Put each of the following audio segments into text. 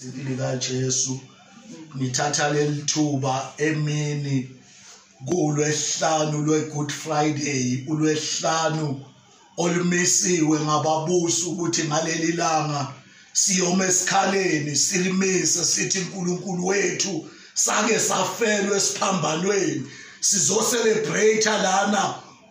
impilo kaJesu nithatha lelithuba emini kulwehlanu lweGood Friday ulwehlanu olumisiwe ngababusi ukuthi ngaleli langa siyoma esikhaleni silimise sithi uNkulunkulu wethu sake safelwe esiphambanweni sizocelebrate lana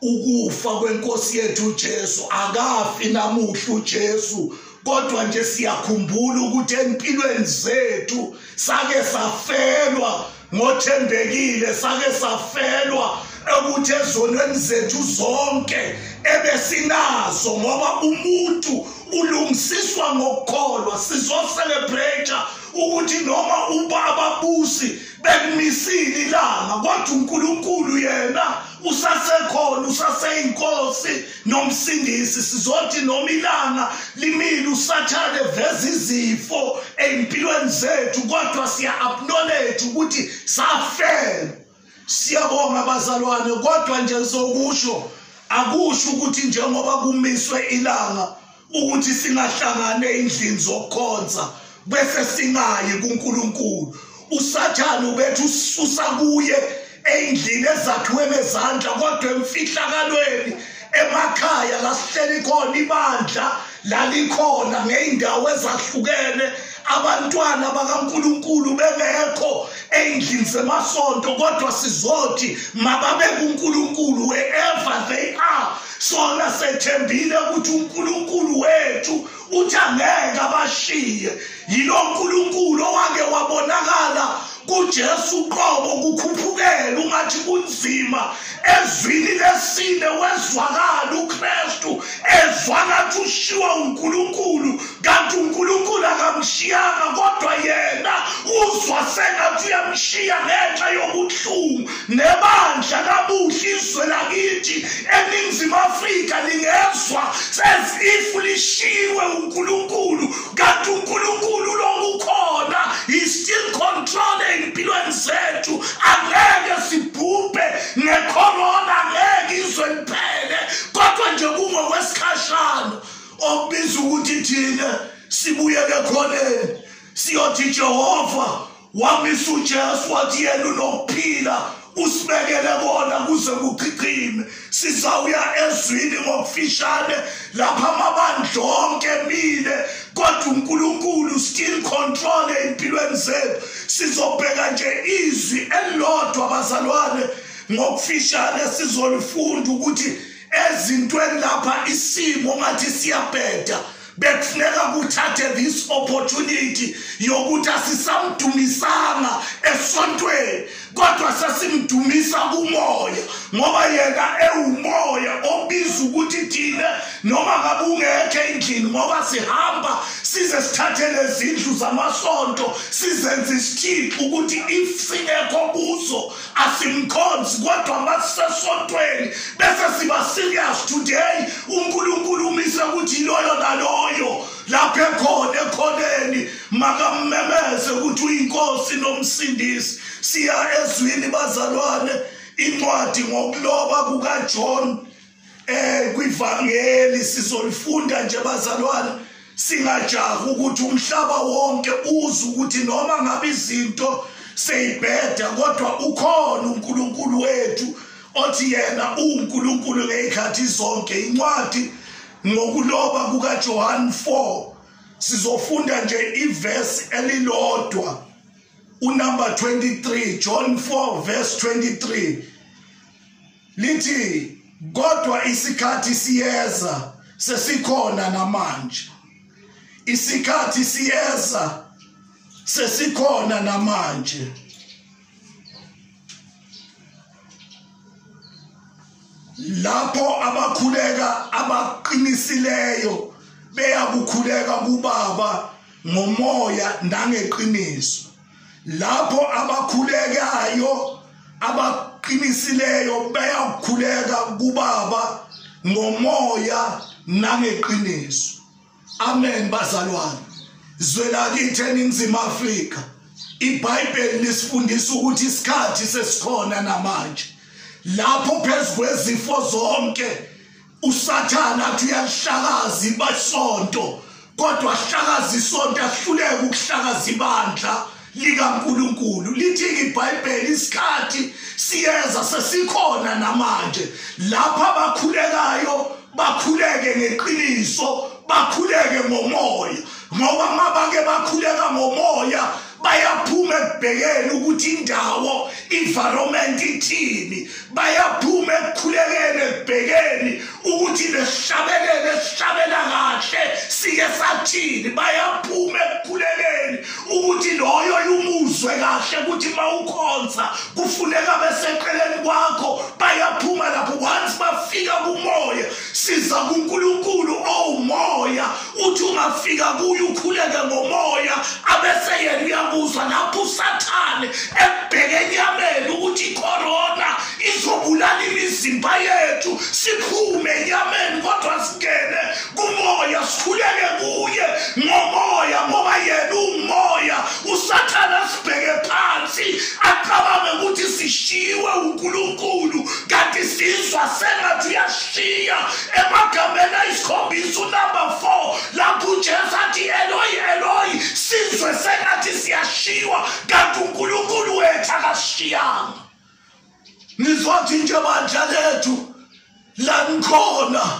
ukufa kwenkosi yethu uJesu akafi namuhla uJesu kodwa nje siyakhumbula ukuthi empilweni zethu sake safelwa ngothembekile sake safelwa ukuthi ezonweni zethu zonke ebesinazo ngoba umuntu ulungisiswa ngokukholwa sizoselebrate ukuthi noma uba ababusi bekumisile ilanga kodwa uNkulunkulu yena usasekhona usaseyinkosi nomsindisi sizothi noma ilanga limile usathane veza izifo ezimpilweni zethu kodwa siya acknowledge ukuthi safela siyabonga bazalwane kodwa nje ngizokusho akusho ukuthi njengoba kumiswe ilanga ukuthi singahlangane endlini zokukhonza bese singayi kuNkulunkulu usathane ubethu ususa kuye endlini ezakhiwe ngezandla kodwa emfihlakalweni emakhaya lasihleli khona ibandla lalikhona ngeyindawo ezahlukene abantwana bakaNkuluNkulu bengekho endlini semasonto kodwa sizothi mababe kuNkuluNkulu wherever they are sona sethembile ukuthi uNkulunkulu wethu uthi angeke abashiye yilo nkulunkulu owake wabonakala kujesu uqobo kukhuphukela ungathi kunzima ezwini lesine wezwakala ukristu ezwa ngathi ushiwa unkulunkulu kanti unkulunkulu akamshiyanga kodwa yena uzwa sengathi uyamshiya ngenxa yobuhlungu nebandla kabuhle izwe lakithi eningizimu afrika lingezwa says if lishiyiwe unkulunkulu kanti unkulunkulu lonke ukhona he still control ey'mpilweni zethu angeke sibhubhe ngekhorona angeke izwe liphele kodwa nje kungokwesikhathi okubiza ukuthi thina sibuyele khoneni siyothi jehova wamisa ujesu wathi yena unokuphila usibekele kona kuze kuchichime sizawuya ezwini ngokufishane lapha amabandla onke emile kodwa unkulunkulu still control ey'mpilweni zethu sizobheka nje izwi elilodwa bazalwane ngokufishane sizolifunda ukuthi ezintweni lapha isimo ngathi siyabheda bekufuneka kuthathe this opportunity yokuthi asisamdumisanga esontweni kodwa sesimdumisa kumoya ngoba yena ewumoya obiza ukuthi thina noma ngabe ungekho endlini ngoba sihamba size sithathe lezindlu zamasonto sizenze isithixo ukuthi if singekho kuzo asimkhonzi kodwa masisesontweni bese siba serious today unkulunkulu umise ukuthi loyo naloyo lapho ekhona ekhoneni makammemeze ukuthi uyinkosi nomsindisi siya ezwini bazalwane incwadi ngokuloba kukajohn eh kwivangeli sizolifunda nje bazalwane singajaha ukuthi umhlaba wonke uze ukuthi noma ngabe izinto seyibheda kodwa ukhona uNkulunkulu wethu othi yena uNkulunkulu ngezikhathi zonke incwadi ngokuloba kukaJohn 4 sizofunda nje iverse elilodwa unumber 23 John 4 verse 23 lithi kodwa isikhathi siyeza sesikhona namanje isikhathi siyeza sesikhona namanje lapho abakhuleka abaqinisileyo beyakukhuleka kubaba ngomoya nangeqiniso lapho abakhulekayo abaqinisileyo bayakukhuleka kubaba ngomoya nangeqiniso amen bazalwane zwelakithi eningizimu afrika ibhayibheli lisifundisa ukuthi isikhathi sesikhona namanje lapho phezu kwezifo zonke usathane athi uyalihlakaza ibasonto kodwa ahlakaza isonto ahluleke ukuhlakaza ibandla likaNkuluNkulu lithi iBhayibheli isikhathi siyeza sesikhona namanje lapha bakhulekayo bakhuleke ngeqiniso bakhuleke ngomoya ngoba mabake bakhuleka ngomoya bayaphuma ekubhekeni ukuthi indawo environment ithini bayaphuma ekukhulekeni ekubhekeni ukuthi lesihlabelele sihlabela kahle sike sathini bayaphuma ekukhulekeni ukuthi loyo yumuzwe kahle ukuthi mawukhonza kufuneka beseqeleni kwakho bayaphuma lapho once bafika kumoya siza kuNkulunkulu owumoya uthi ungafika kuye ukhuleke ngomoya abese yena uyakuzwa lapho usathane ebheke enyameni ukuthi icorona izobulala imizimba yethu siphume enyameni kodwa singene kumoya sikhuleke kuye ngomoya ngoba yena umoya usathane asibheke phansi acabange ukuthi sishiwe uNkulunkulu kanti sizwa sengathi uyashiya emagameni ayisikhombisa unumber four lapho ujesu athi eloyi eloyi sizwe sengathi siyashiwa kanti unkulunkulu wethu akashiyanga nizothi nje bandla lethu la nikhona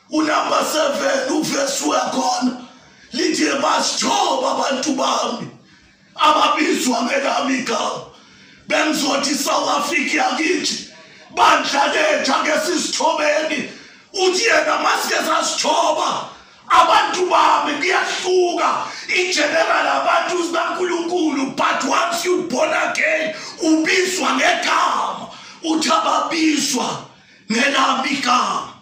unumber 7 uvesi uyakhona lithi basithoba abantu bami ababizwa ngelami igama bengizothi isouth africa yakithi bandla letha ke sisithobeni uthi yena masike sasithoba abantu bami kuyahluka igeneral abantu sikankulunkulu but once you born again ubizwa ngegama uthi ababizwa ngelami igama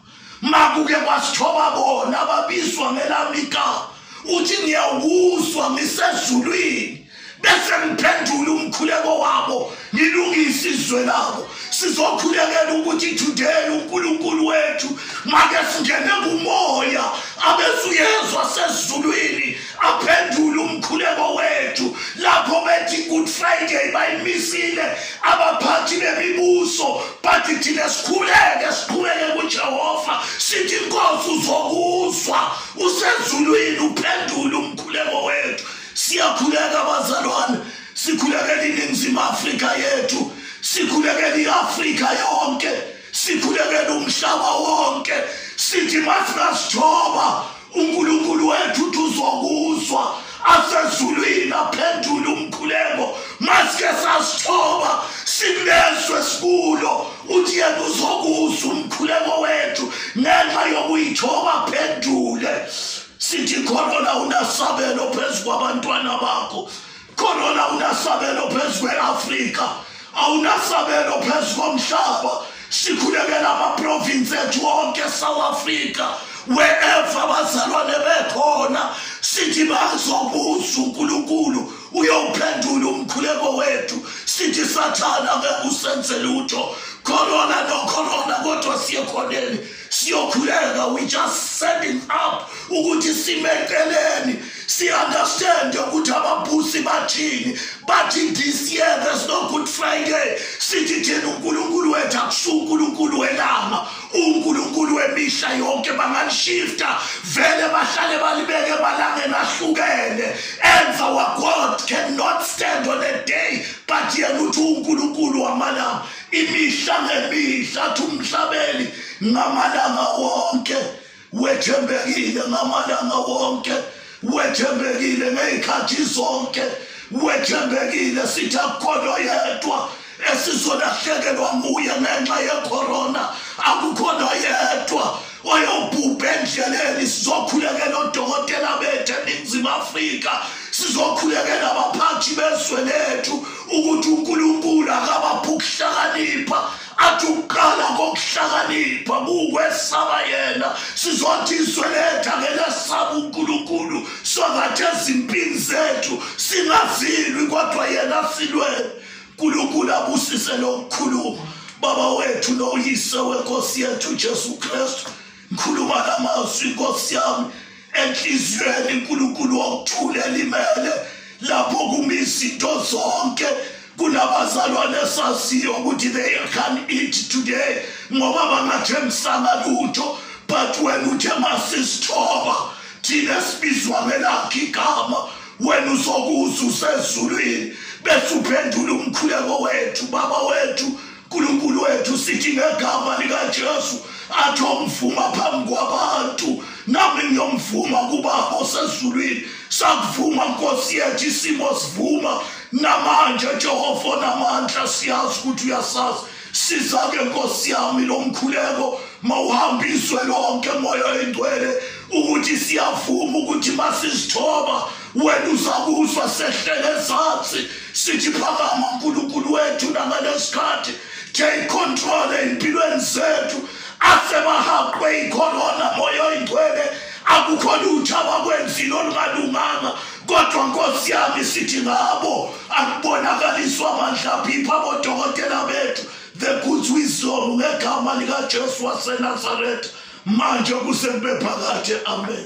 makuke kwasithoba bona ababizwa ngelami igama uthi ngiyawuzwa ngisezulwini bese ngiphendula umkhuleko wabo ngilungise izwe labo sizokhulekela ukuthi today uNkulunkulu wethu make singene kumoya abesuyezwa sezulwini aphendule umkhuleko wethu lapho bethi good friday bayimisile abaphathi bemibuso bathi thina sikhuleke siqhubeke kujehova sithi inkosi uzokuzwa usezulwini uphendule umkhuleko wethu siyakhuleka bazalwane sikhulekela iningizimu afrika yethu sikhulekela i-afrika yonke sikhulekela umhlaba wonke sithi masingasithoba unkulunkulu wethu uthi uzokuzwa asezulwini aphendule umkhuleko masike sasithoba sikulezwe sikulo uthi yena uzokuzwa umkhuleko wethu ngenxa yokuyithoba aphendule sithi khona la unasabelo phezu kwabantwana bakho Corona awunasabelo phezu kwe-Afrika, awunasabelo phezu komhlaba. Sikhulekela amaprovinsi ethu wonke eSouth Africa wherever abazalwane bekhona sithi bazobuza uNkulunkulu uyowuphendula umkhuleko wethu sithi sathana ngeke usenze lutho corona no corona kodwa siye khoneni siyokhuleka we just setting up ukuthi simeceleni si-understande ukuthi ababusi bathini bathi this year there's no good friday sithi thina unkulunkulu wethu akusuke unkulunkulu welanga unkulunkulu wemihla yonke bangalishifta vele bahlale balibeke emalangeni ahlukene enza wagod cannot stand on a day but yena uthi unkulunkulu wamalanga imihla ngemihla athi umhlabeli ngamalanga wonke wethembekile ngamalanga wonke wethembekile ngey'khathi zonke wethembekile sithi akukholwa yedwa esizolahlekelwa nguye ngenxa yekhorona akukhona yedwa wayobhubha endleleni sizokhulekela odokotela bethu eningizimu afrika sizokhulekela abaphathi bezwe lethu ukuthi unkulunkulu akabaphi ukuhlakanipha athi ukuqala kokuhlakanipha kuwesaba yena sizothi izwe lethu akelesaba unkulunkulu songathi ezimpini zethu singazilwi kodwa yena silwele nkulunkulu abusise lokukhuluma baba wethu noyise wenkosi yethu jesu kristu ngikhuluma la mazwi nkosi yami enhliziyweni nkulunkulu wokuthula elimele lapho kuma izinto zonke kunabazalwane esaziyo ukuthi they can eat today ngoba bangathembisanga lutho but wena uthe masisithoba thina sibizwa ngelakho igama wena uzokuza usezulwini bese uphendula umkhuleko wethu baba wethu nkulunkulu wethu sithi ngegama likajesu athi omvuma phambi kwabantu nami ngiyomvuma kubaba osezulwini sakuvuma nkosi yethu isimo sivuma namanje jehova onamandla siyazi ukuthi uyasazi siza-ke nkosi yami lo mkhuleko mawuhambiswe lonke moya oyingcwele ukuthi siyavuma ukuthi masizithoba wena uzakuzwa sehlele ezansi sithi phakama nkulunkulu wethu nangalesikhathi take control ey'mpilweni zethu asebahaqwe ikhorona moya oyingcwele akukho lutho abakwenzile olungalunganga kodwa nkosi yami sithi ngabo akubonakaliswa amandla phipha abodokotela bethu the good wisdom ngegama likajesu wasenazaretha manje kusebephakade amen